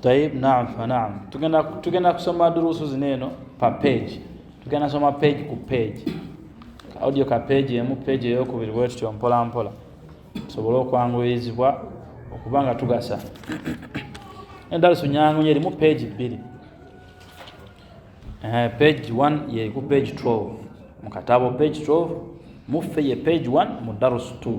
tayib naam fa naam tugenda tugenda kusoma durusu zino eno pa page tugenda soma page ku page audio ka page emu page eyokubiri bwe tutyo mpola mpola tusobole okwanguyizibwa okuba nga tugasa endalusu nyangu nyo erimu page bbiri eh, page 1 yeri ku page 12 mu katabo page 12 muffe ye page 1 mu darusu 2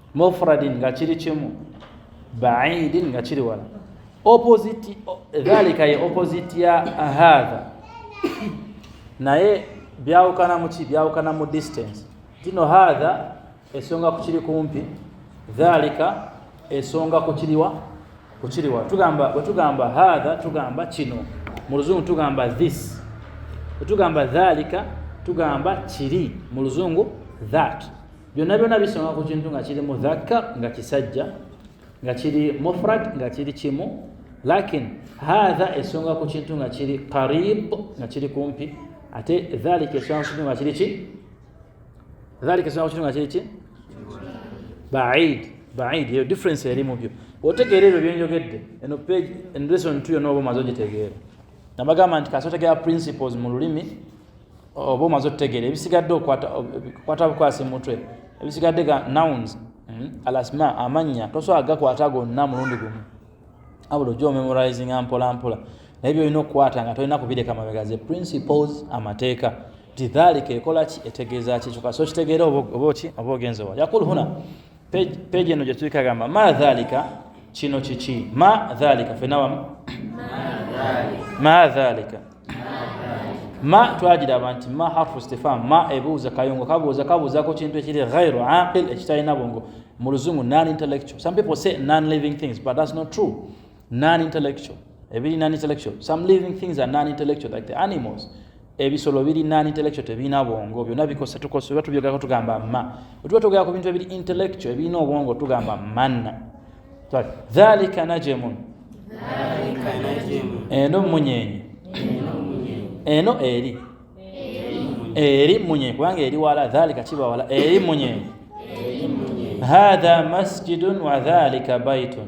mufradin nga kiri kimu baidin nga kiri wala opposite dhalika ye opposite ya hadha naye byawukana muki byawukana mu distance tino hadha esonga kukiri kumpi dhalika esonga kukiriwa kukiriwa tugamba bwetugamba hadha tugamba kino mu luzungu tugamba this bwetugamba dhalika tugamba kiri mu luzungu that byonna byonna bisonga ku kintu nga kiri mudhakka nga kisajja nga kiri mufrad nga kiri kimu lakin hatha esonga ku kintu nga kiri qarib nga kiri kumpi ate dhalika esonga ku kintu nga kiri ki dhalika esonga ku kintu nga kiri ki baid baid eyo difference eri mu byo otegeera ebyo byenjogedde eno page lesson tu yona oba omaze ogitegeera nabagamba nti kasotegera principles mu lulimi oba omaze otutegeera ebisigadde okukwata bukwasi mutwe ebisigadde ga nouns hmm, alasma amannya tosobola gakwata gonna mulundi gumu abula ojja omemorizinga mpolampola naye byolina okukwata nga tolina kubireka mabega ze principles amateeka tidhalika ekola ki etegeeza ki kyoka so kitegeera oba oki oba ogenzewa yakul huna peji eno gyetuli kagamba ma dhalika kino kiki ma dhalika fenawamu ma dhalika ma twagiraba nti ma harfu stefan ma ebuuza kayungo kabuuza kabuuzako kintu ekiri ghairu aqil ekitalina bwongo mu luzungu non intellectual some people say non living things but that's not true non intellectual ebiri non intellectual some living things are non intellectual like the animals ebisolo biri non intellectual tebirina bwongo byonna bikosa tukosa oba tubyogerako tugamba ma otuba tugera ku bintu ebiri intellectual ebirina obwongo tugamba manna dhalika najemun eno munyenye eno eri eri munyenye kubanga eri wala dhalika kiba wala eri munyenye hadha masjidun wa dhalika baitun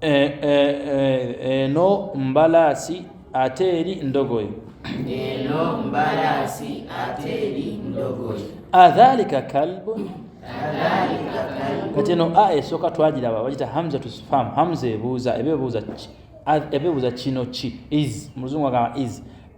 eh, eh, eh, eno mbalaasi ate eri ndogoyi eno mbalaasi ate eri ndogoyi adhalika kalbu kati eno a esooka twagiraba bagita hamza to spam hamza ebuuza ebebuuza ebebuuza kino ki is muluzungu agamba is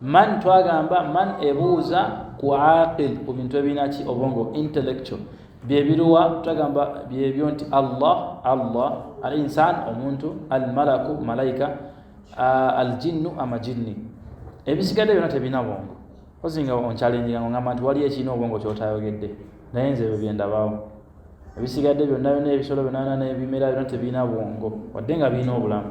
man twagamba man ebuuza ku aqil ku bintu ebirina ki obwongo intellectual byebiruwa twagamba byebyo nti allah allah al insan omuntu al malaku malaika al jinnu amajinni ebisigadde byona tebirina bwongo ozinga onkyalenjira ngo ngamba nti waliyo ekirina obwongo kyotayogedde naye nze ebyo byendabawo ebisigadde byonna byona ebisolo byonana nebimera byona tebirina bwongo wadde nga birina obulamu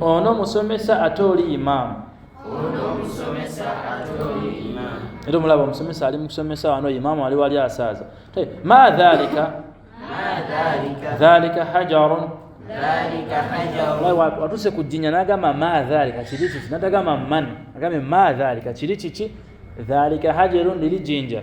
ono musomesa ate oli imaamu era omulaba omusomesa ali mukusomesa wano imaamu ali wali asaaza ma dhalika dhalika hajarun watuse ku jjinya nagamba ma dhalika kiri kiki natagamba man agambe ma dhalika kiri kiki dhalika hajarun liri jinja